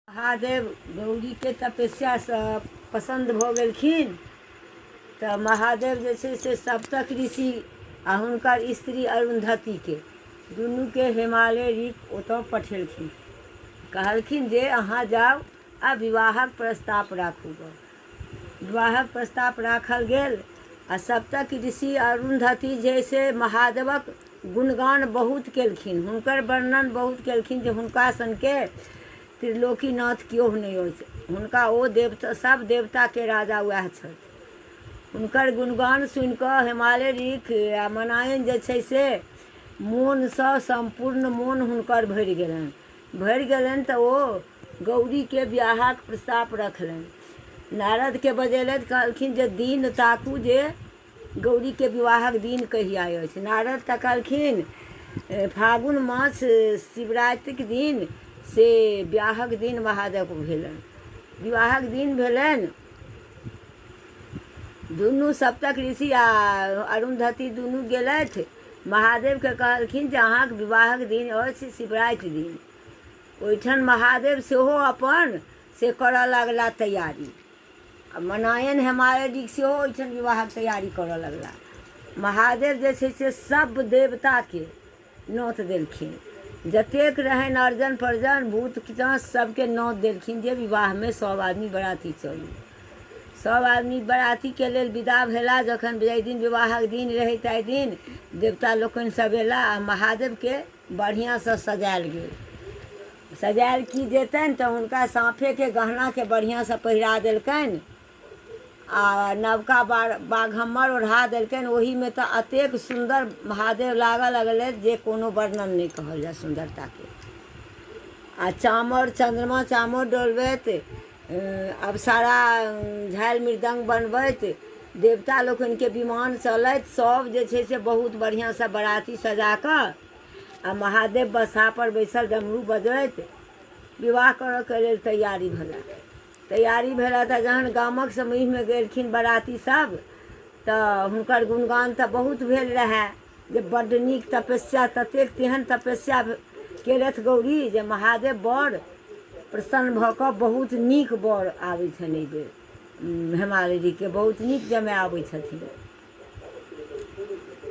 महादेव गौरीके तपस्यासँ पसन्द भऽ गेलखिन तऽ महादेव जे छै से सप्तक ऋषि आ हुनकर स्त्री अरुन्धतिके दुनूके हिमालय ऋख ओतऽ पठेलखिन कहलखिन जे अहाँ जाउ आ विवाहक प्रस्ताव राखू गऽ विवाहक प्रस्ताव राखल गेल आ सप्तक ऋषि अरुन्धति जे से महादेवक गुणगान बहुत केलखिन। हुनकर वर्णन बहुत केलखिन जे हुनका सनके त्रिलोकीनाथ क्योह नहि अछि। हुनका ओ देवता सभ देवता के राजा वैह छथि। हुनकर गुणगान सुनि कऽ हिमालय ऋख आ मनायन जे छै से मोन सँ सम्पूर्ण मोन हुनकर भरि गेलनि। भरि गेलनि तँ ओ गौरीकेँ बिआहक प्रस्ताप रखलनि। नारदकेँ बजेलथि। कहलखिन जे दिन ताकू जे गौरीकेँ विवाहक दिन कहिया अछि। नारद तँ कहलखिन फागुन मास शिवरातिक दिन से बिआहक दिन महादेवक भेलनि। विवाहक दिन भेलनि। दुनू सप्तक ऋषि आ अरुन्धती दुनू गेलथि। महादेव केँ कहलखिन जे अहाँक विवाहक दिन अछि शिवराति दिन। ओहिठाम महादेव सेहो अपन से करऽ लगला तैयारी। आ मनायन हेमायडिक सेहो ओहिठाम विवाहक तैयारी करऽ लगला। महादेव जे छै से सभ देवता केँ नौत देलखिन। जतेक रहनि अर्जन-प्रजन, भूत-पिशाच सभ केँ नौत देलखिन जे विवाह मे सभ आदमी बराती चलू। सभ आदमी बरातीके लेल विदा भेला। जखन जाहि दिन विवाहक दिन रहै ताहि दिन देवता लोकनि सभ एला आ महादेवके बढ़ियासँ सजायल गेल। सजायल की जेतनि तँ हुनका साँफेके गहनाके बढ़ियासँ पहिरा देलकनि आ नवका बाघम्मर ओढ़ा देलकनि। ओहिमे तँ अतेक सुन्दर महादेव लागऽ लगलथि जे कोनो वर्णन नहि कहल जाय सुन्दरताके। आ चामर चन्द्रमा चामर डोलबैत। अप्सरा झालि मृदङ्ग बनबैत देवता लोकनिके विमान चलैत सभ जे छै से बहुत बढ़िआँसँ बराती सजा कऽ आ महादेव बसापर बैसल डमरू बजैत विवाह करऽके लेल तैयारी भेला तैयारी भेला तऽ जहन गामक समूहमे गेलखिन बराती सभ तऽ हुनकर गुणगान तऽ बहुत भेल रहै जे बड्ड नीक तपस्या ततेक तेहन तपस्या केलथि गौरी जे महादेव बड़ प्रसन्न भऽ कऽ बहुत नीक बड़ आबै छनि एहि बेर हेमालिनीके बहुत नीक जमाय आबै छथिन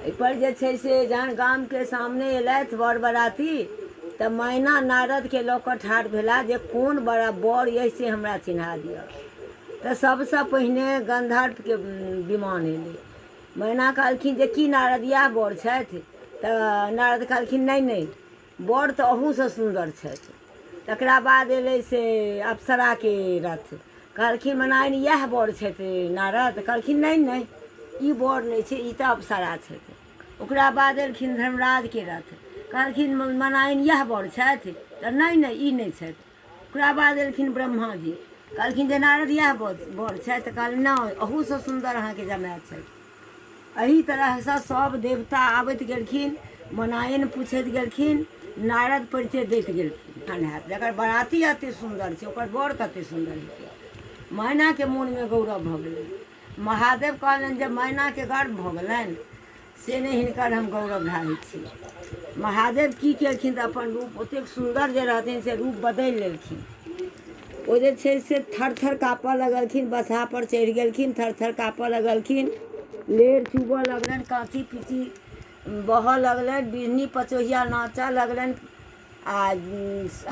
एहिपर जे छै से जहन गामके सामने अयलथि बर बराती तऽ मैना नारदके लऽ कऽ ठाढ़ भेला जे कोन बड़ा बड़ अइ से हमरा चिन्हा दिअ तऽ सभसँ पहिने गन्धर्पके विमान अयलै मैना कहलखिन जे की नारद इएह बर छथि तऽ नारद कहलखिन नहि नहि बर तऽ अहूसँ सुन्दर छथि तकरा बाद एलै से अप्सराके रथ कहलखिन मनाइन इएह बर छथि नारद कहलखिन नहि नहि ई बर नहि छै ई तऽ अप्सरा छथि ओकरा बाद एलखिन धर्मराजके रथ कहलखिन मनाइन इएह बर छथि तऽ नहि नहि ई नहि छथि ओकरा बाद एलखिन ब्रह्मा जी कहलखिन जे नारद इएह बर छथि तऽ कहलखिन नहि अहूसँ सुन्दर अहाँके जमाय छथि एहि तरहसँ सभ देवता आबैत गेलखिन मनायन पूछैत गेलखिन नारद परिचय दैत गेलखिन तहन हैत जकर बराती एतेक सुन्दर छै ओकर बर कतेक सुन्दर हेतै मैनाके मोनमे गौरव भऽ गेलै महादेव कहलनि जे मैनाके गर्व भऽ गेलनि से नहि हिनकर हम गौरव ढाहै छी महादेव की केलखिन तऽ अपन रूप ओतेक सुन्दर जे रहथिन से रूप बदलि लेलखिन ओ जे छै से थर थर काँपऽ लगलखिन बसहापर चढ़ि गेलखिन थर थर काँपऽ लगलखिन लेर चूबऽ लगलनि काँची पीची बहऽ लगलनि बिहनी पचोहिया नाचऽ लगलनि आ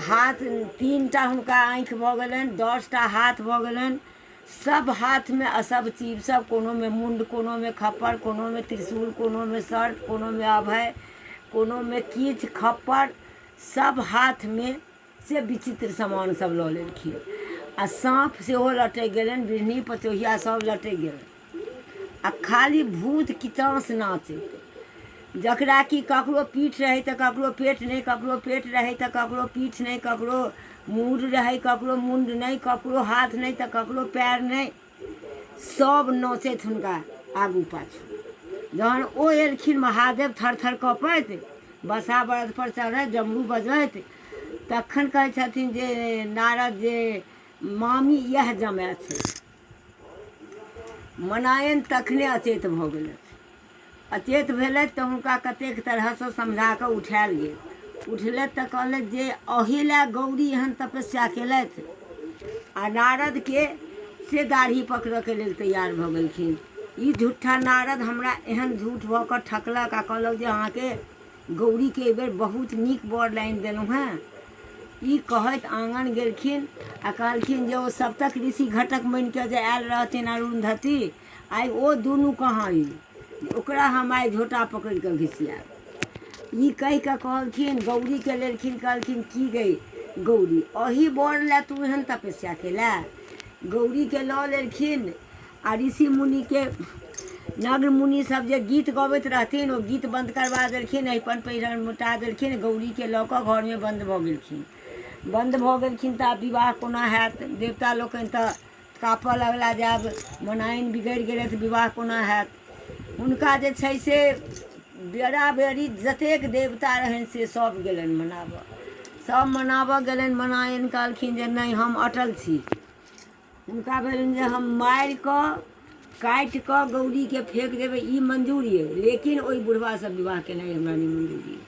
हाथ तीन टा हुनका आँखि भऽ गेलनि दस टा हाथ भऽ गेलनि सभ हाथमे असभ चीर सभ कोनोमे मुण्ड कोनोमे खप्पर कोनोमे त्रिशूल कोनोमे सर्प कोनोमे अभय कोनोमे किछु खप्पर सभ हाथमे से विचित्र सामान सभ लऽ लेलखिन आ साँप सेहो लटकि गेलनि बिढ़नी पचोहिया सभ लटकि गेलनि आ खाली भूत किताँस नाचैत जकरा कि ककरो पीठ रहै तऽ ककरो पेट नहि ककरो पेट रहै तऽ ककरो पीठ नहि ककरो मूड रहै ककरो मुण्ड नहि ककरो हाथ नहि तऽ ककरो पएर नहि सभ नचैत हुनका आगू पाछू जहन ओ एलखिन महादेव थर थर कपैत बसा बरदपर चढ़ैत डमरू बजैत तखन कहै छथिन जे नारद जे मामी इएह जमाए छै मनायन तखने अचेत भऽ गेलथि अचेत भेलथि तऽ हुनका कतेक तरहसँ समझा कऽ उठायल गेल उठलथि तऽ कहलथि जे अही लए गौरी एहन तपस्या केलथि आ नारदके से दाढ़ी पकड़यके लेल तैयार भऽ गेलखिन ई झूठा नारद हमरा एहन झूठ भऽ कऽ ठकलक आ कहलक जे अहाँके गौरीके एहि बेर बहुत नीक बर लाइन देलहुँ हेँ ई कहैत आँगन गेलखिन आ कहलखिन जे ओ सप्तक ऋषि घटक बनि कऽ जे आयल रहथिन अरुन्धति आइ ओ दुनू कहाँ ई ओकरा हम आइ झोटा पकड़ि कऽ घिसियाब ई कहि कऽ कहलखिन गौरीके लेलखिन कहलखिन की गई गौरी अही बर लए तू एहन तपस्या केलए गौरीके लऽ लेलखिन आ ऋषि मुनिके नग्न मुनि सब जे गीत गबैत रहथिन ओ गीत बन्द करबा देलखिन अहिपन पहिरन मोटा देलखिन गौरीके लऽ कऽ घरमे बन्द भऽ गेलखिन बन्द भऽ गेलखिन तऽ आब विवाह कोना हैत देवता लोकनि तऽ काँपऽ लगला जे आब मनाइन बिगड़ि गेलै तऽ विवाह कोना हैत हुनका जे छै से बेरा बेरी जतेक देवता रहनि से सब गेलनि मनाबऽ सब मनाबऽ गेलनि मनाइन कहलखिन जे नहि हम अटल छी हुनका भेलनि जे हम मारि कऽ काटि कऽ गौरीके फेंक देबै ई मंजूर ये लेकिन ओहि बुढ़वासँ विवाह केनाइ हमरा नहि मंजूर ये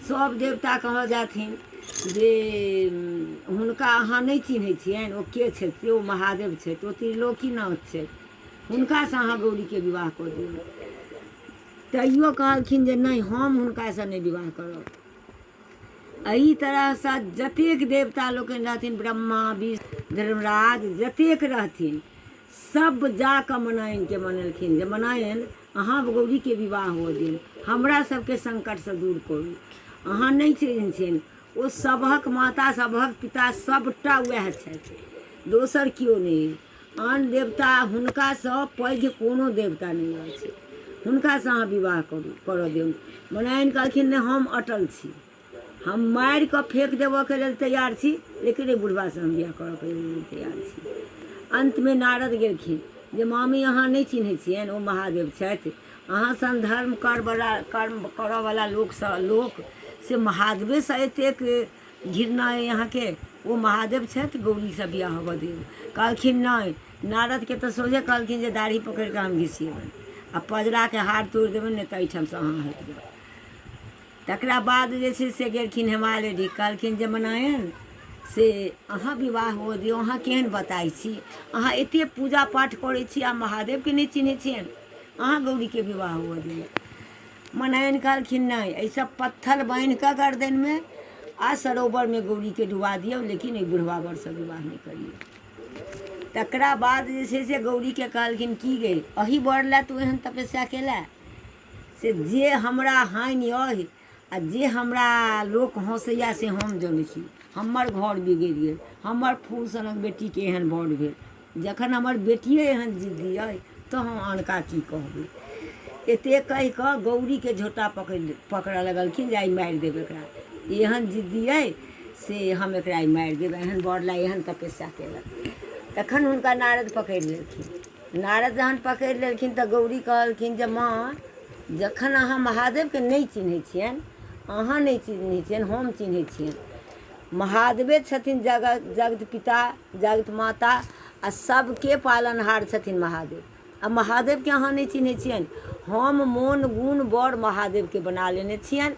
सभ देवता कहऽ जाथिन जे हुनका अहाँ नहि चिन्है छियनि ओ के छथि से ओ महादेव छथि ओ त्रिलोकीनाथ छथि हुनकासँ अहाँ गौरीके विवाह कऽ दियौ तैयो कहलखिन जे नहि हम हुनकासँ नहि विवाह करब एहि तरहसँ जतेक देवता लोकनि रहथिन ब्रह्मा विष्णु धर्मराज जतेक रहथिन सब जाकऽ मनायनके मनेलखिन जे मनायन अहाँ गौरीके विवाह हो दिन हमरा सबके संकटसँ दूर करू अहाँ नहि चिन्हथिन ओ सबहक माता सबहक पिता सबटा वएह छथि दोसर केओ नहि आन देवता हुनकासँ पैघ कोनो देवता नहि अछि हुनकासँ अहाँ विवाह करू करऽ दियौ मनायन कहलखिन नहि हम अटल छी हम मारि कऽ फेंक देबऽके लेल तैयार छी लेकिन एहि बुढ़बासँ हम विवाह करऽके लेल नहि तैयार छी अन्तमे नारद गेलखिन जे मामी अहाँ नहि चिन्है छियनि ओ महादेव छथि अहाँ सन धर्म करवला कर्म करऽवला लोकसँ लोक से महादेवेसँ एतेक घृणा अइ अहाँके ओ महादेव छथि गौरीसँ बियाह होबऽ दियौ कहलखिन नहि नारदके तऽ सोझे कहलखिन जे दाढ़ी पकड़ि कऽ हम घिसियेबनि आ पजराके हार तोड़ि देबनि नहि तऽ एहिठामसँ अहाँ हटि जाउ तकरा बाद जे छै से गेलखिन हिमालय जी कहलखिन जे मनायन से अहाँ विवाह हो दियौ अहाँ केहन बताइ छी अहाँ एते पूजा पाठ करै छी आ महादेवके नहि चिन्है छियनि अहाँ गौरीके विवाह हो दियौ मनैन कहलखिन नहि एहिसँ पत्थर बान्हि कऽ गर्दनिमे आ सरोवरमे गौरीके डुबा दियौ लेकिन एहि बुढ़वा बरसँ विवाह नहि करियौ तकरा बाद जे छै से गौरीके कहलखिन की गे अही बर लए तू एहन तपस्या केलए से जे हमरा हानि अहि आ जे हमरा लोक हँसैए से हम जनै छी हमर घर बिगड़ि गेल हमर फूल सनक बेटीके एहन बर भेल जखन हमर बेटिये एहन जिद्दी अइ तँ हम आनका की कहबै। एते कहि कऽ गौरीकेँ झोंटा पकड़ऽ लगलखिन जे आइ मारि देब एकरा। ई एहन जिद्दी अइ से हम एकरा आइ मारि देब। एहन बर लए एहन तपस्या केलक। तखन हुनका नारद पकड़ि लेलखिन। नारद जहन पकड़ि लेलखिन तँ गौरी कहलखिन जे माँ, जखन अहाँ महादेवकेँ नहि चिन्है छियनि, अहाँ नहि चिन्है छियनि, हम चिन्है छियनि। महादेवे छथिन जगत जगत पिता। जगत माता आ सभके पालनहार छथिन महादेव आ महादेवके अहाँ नहि चिन्है छियनि हम मोन गुण बड़ महादेवके बना लेने छियनि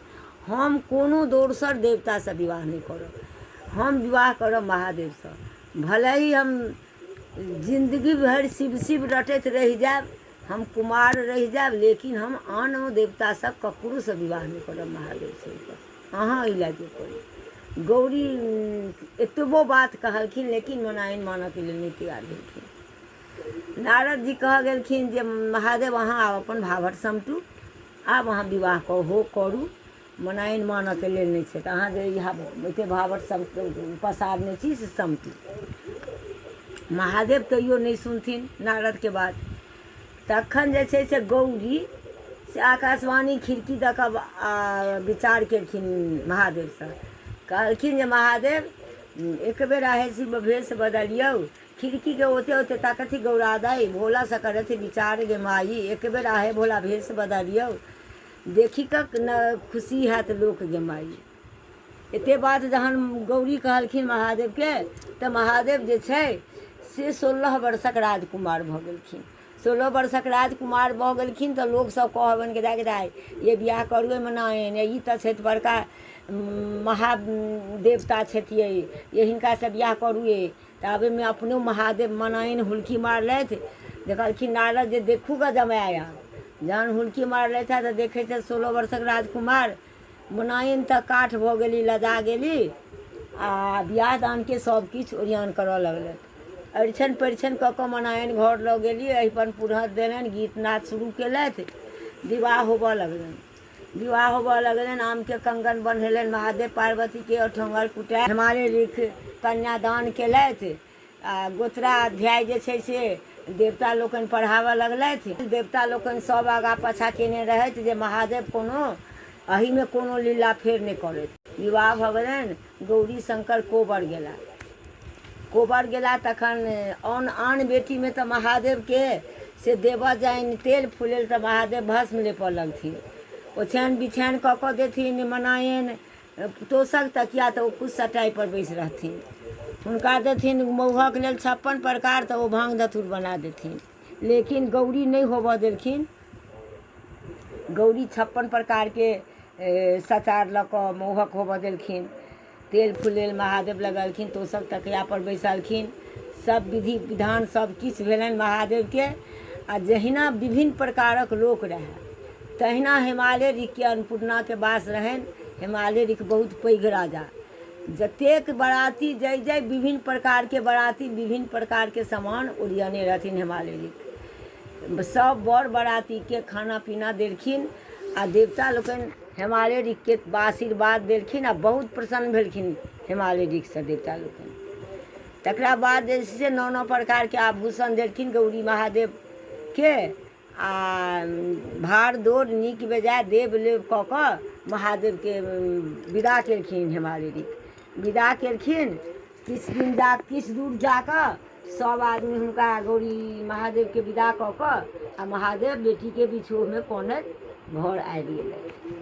हम कोनो दोसर देवतासँ विवाह नहि करब हम विवाह करब महादेवसँ भले ही हम जिन्दगी भरि शिव शिव रटैत रहि जायब हम कुमार रहि जायब लेकिन हम आन देवतासँ ककरोसँ विवाह नहि करब महादेव छोड़िकऽ अहाँ ई लए जे करू गौरी एतबो बात कहलखिन लेकिन मनाइन मानऽके लेल नहि तैयार भेलखिन नारद जी कह गेलखिन जे महादेव अहाँ आब अपन भाभर समटू आब अहाँ विवाह हो करू मनाइन मानऽके लेल नहि छै तऽ अहाँ जे ई एते भावट सब पसारने छी से समटी महादेव कहियो नहि सुनथिन नारदके बात तखन जे छै से गौरी से आकाशवाणी खिड़की दऽ कऽ विचार केलखिन महादेवसँ कहलखिन जे महादेव एक बेर आहे शिव भेष बदलियौ खिड़कीके ओते ओते ताकथि गौरा दाई भोलासँ करथि विचार गे माई एक बेर आहे भोला भेष बदलियौ देखि कऽ ने खुशी हैत लोक जे माइ एते बात जहन गौरी कहलखिन महादेवके तऽ महादेव जे छै से सोलह वर्षक राजकुमार भऽ गेलखिन सोलह वर्षक राजकुमार भऽ गेलखिन तऽ लोकसभ कहबनि कि दाइ दाइ ये बियाह करू एहिमे नहि एहन ई तऽ छथि बड़का महादेवता छथि ये ये हिनकासँ बियाह करू ये ताबेमे अपनो महादेव मनाइन हुलकी मारलथि देखलखिन नारद जे देखू गा जमाया जहन हुलकी मारलथि हँ तऽ देखै छथि सोलह वर्षक राजकुमार मनाइन तऽ काठ भऽ गेली लजा गेली आ बियाह दानके सभ किछु ओरियान करऽ लगलथि अरिछन परिछन कऽ कऽ मनाइन घर लऽ गेली अहिपन पुरहर देलनि गीत नाद शुरू केलथि विवाह होबऽ लगलनि विवाह होबऽ लगलनि आम के कंगन बन्हेलनि महादेव पार्वती के अठोंगर कुटाय हिमालय लिख कन्यादान केलथि आ गोत्रा अध्याय जे छै से देवता लोकनि पढ़ाबऽ लगलथि देवता लोकनि सब आगा पाछा केने रहथि जे महादेव कोनो अही मे कोनो लीला फेर नहि करथि विवाह भऽ गेलनि गौरीशंकर कोबर गेला। कोबर गेला तखन औन आन बेटी मे त महादेव के से देबऽ जाइन तेल फुलेल त महादेव भस्म लेपऽ लगथिन। ओछैन बिछैन क क देथिन मनाएन तोसक तकिया त ओ कुछ सटाइ पर बैस रहथिन। हुनका देथिन मउहक लेल छप्पन प्रकार त ओ भांग धतूर बना देथिन। लेकिन गौरी नहि होबऽ देलखिन। गौरी छप्पन प्रकार के सचार लऽ कऽ मौहक होबऽ देलखिन। तेल फुलेल महादेव लगेलखिन। तोसक तकिया पर बैसलखिन। सभ विधि विधान सभ किछु भेलनि महादेव के। आ जहिना विभिन्न प्रकारक लोक रहए। तहिना हेमाले ऋख के अन्नपूर्णा के वास रहनि। हेमाले ऋख बहुत पैघ राजा। जतेक बराती जाहि जाहि विभिन्न प्रकारके बराती विभिन्न प्रकारके समान ओरियने रहथिन हेमालेरिक सभ बर बरातीके खाना पीना देलखिन आ देवता लोकनि हेमालेरिकके आशीर्वाद देलखिन आ बहुत प्रसन्न भेलखिन हेमालेरिकसँ देवता लोकनि तकरा बाद जे छै से नाना प्रकारके आभूषण देलखिन गौरी महादेवके आ भार दौर नीक बेजाय देब लेब कऽ कऽ महादेवके विदा केलखिन हेमारे रीत विदा केलखिन किछु दिन जा किछु दूर जा कऽ सभ आदमी हुनका गौरी महादेवके विदा कऽ कऽ आ महादेव बेटीके बिछोहमे कनैत घर आबि गेलथि